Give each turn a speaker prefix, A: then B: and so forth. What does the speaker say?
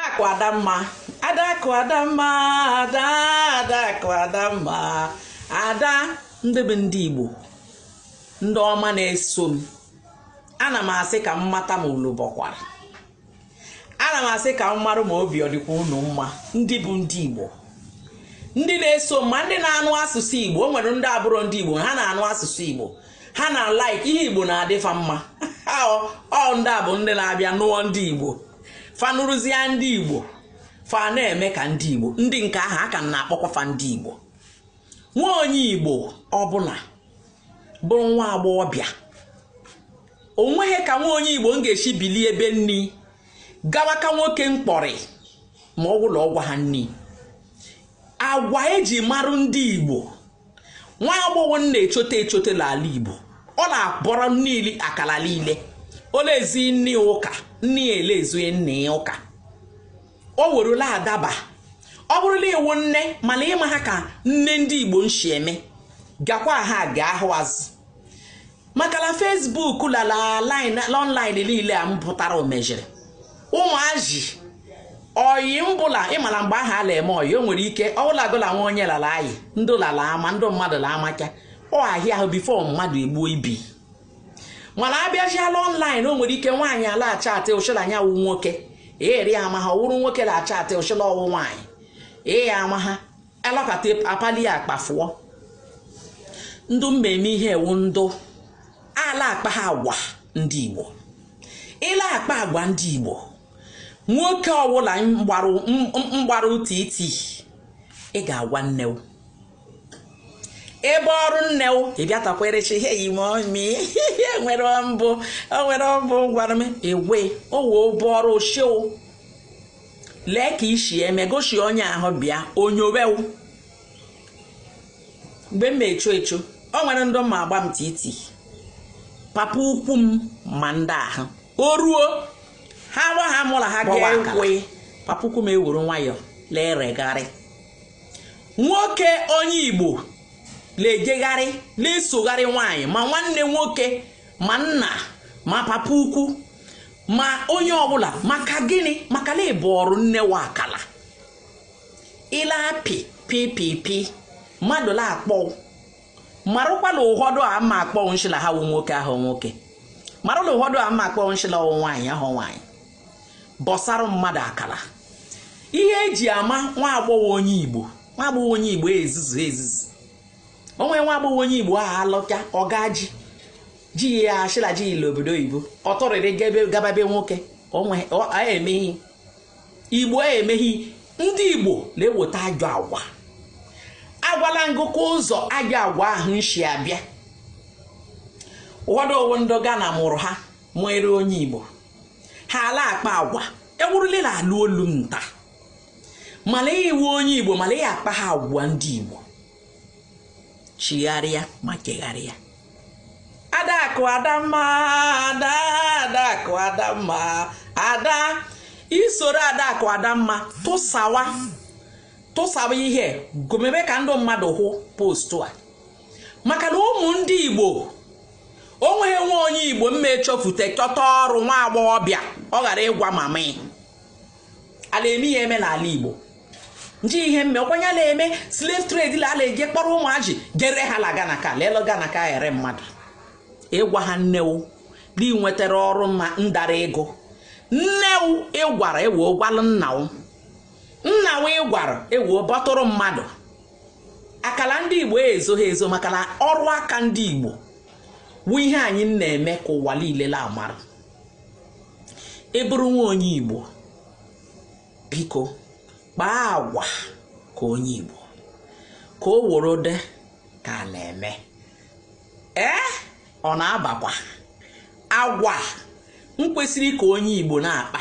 A: Adakụ Adamma Adakụ Adamma Ada Adakụ Adamma Ada ndị bụ ndị Igbo ndị ọma na-eso m ana m asị ka m mata ma unu bọkwara ana m asị ka m mara ma obi ọ dịkwa unu mma ndị bụ ndị Igbo ndị na-eso m ma ndị na-anụ asụsụ Igbo o nwere ndị abụrọ ndị Igbo ha na-anụ asụsụ Igbo ha na-alike ihe Igbo na-adị fa mma ọ ndị a bụ ndị na-abịa nụọ ndị Igbo fa nụrụzie ndị igbo fa na-eme ka ndị igbo ndị nke ahụ a ka na-akpọkwa fa ndị igbo nwa onye igbo ọbụla bụrụ nwa agbọghọbịa o nweghị ka nwa onye igbo nga-esi bilie ebe nne ya gawa ka nwoke mkpọrị ma ọ wụla ọ gwaha nne ya agwa e ji marụ ndị igbo nwa agbọghọ na-echote echote n'ala igbo ọ na-abọrọ niile akala niile o lezi nne ụka nne ya elezughị nne ya ụka o werula adaba ọ bụrụ na ị wụ nne mana ị maha ka nne ndị igbo nshi eme gakwa ha ga ahụ azụ maka na Facebook la online niile a mpụtara o mejiri ụmụazị oyi mbụ la ị mara mgbe ahụ a na-eme oyi o nwere ike ọbụla agụla nwa onye lala anyị ndị lala ama ndị mmadụ la amaka ọ ahịa ahụ before mmadụ egbuo ibi mana abịaziala online o nwere ike nwaanyị a la-achat ọ shị la nya wụ nwoke eri ama ha ọ wụrụ nwoke na-achat shị la ọ wụ nwaanyị ee ama ha alọkata akpali ya akpa fụọ ndụ mmemme ihe e wụ ndụ ala-akpaha agwa ndị igbo ị la-akpa agwa ndị igbo nwoke ọwụla mgbara titi ị ga-agwa nne o ị bọọrụ nne o ị bịatakwerechi ihe yi ma ọmi nwere mbụ o nwere mbụ gwara m ewe o wee ụbọ ọrụ ochie o lee ka i si eme gosi onye ahụ bịa onye ọ wụ mgbe m echo echo o nwere ndị ma agba m titi papa ukwu m ma ndị ahụ o ruo ha gwa ha mụ la ha ga-ekwe papa ukwu m eweru nwayọọ leregharị nwoke onye igbo na-ejegharị na-esogharị nwaanyị ma nwanne nwoke ma nna ma papa ukwu ma onye ọbụla maka gịnị maka na ị bọọrụ nne wa akala ị la-apị pipipi mmadụ la-akpọ marụkwa la ụfọdụ a ma akpọ nshi la ha wụ nwoke awụhụ nwoke marụ la ụfọdụ a ma akpọ nshi la ọ wụ nwaanyị awụhụ nwaanyị bọsarụ mmadụ akala ihe e ji ama nwa agbọghọ onye igbo nwa agbọghọ onye igbo ezuzuha ezuzu o nwere nwa agbọghọ onye igbo ahụ alọcha ọga ji ji ya ashịla ji ile obodo oyibo ọ tọrịrị gaba be nwoke emeghi igbo emeghi ndị igbo na-eweta ajọ agwa agwala ngụkọ ụzọ ajọ agwa ahụ nshi abịa ụfọdụ o wu ndị Ghana mụrụ ha nwere onye igbo ha ala akpa agwa ewurule na alụ olu nta mala i wu onye igbo mala ya akpa ha agwa ndị igbo chigharịa ma chegharịa adakụ adamma ada adakụ adamma ada isoro adakụ adamma tụsawa tụsawa ihe gomebe ka ndị mmadụ hụ postu a maka na ụmụ ndị igbo o nweghị nwa onye igbo mme echofute chọta ọrụ nwa agbọghọbịa ọ ghara ịgwa mama ya a la-eme ya eme n'ala igbo nji ihe mme ọkwanye a na-eme slave trade la a la-eje kpọrọ ụmụajị je ree ha la Ghana ka lelo Ghana ka ere mmadụ ị gwaha nne wu na i nwetara ọrụ ma ndara ego nne wu ị gwara ewe gwalụ nna wu nna wu ị gwara ewe bọtụrụ mmadụ akala ndị igbo ezoha ezo maka na ọrụ aka ndị igbo wu ihe anyị na-eme ka ụwa niile la amara ị bụrụ nwa onye igbo biko kpaa agwa ka onye Igbo ka o woro dị ka a na-eme ee ọ na-abakwa agwa mkwesịrị ka onye Igbo na-akpa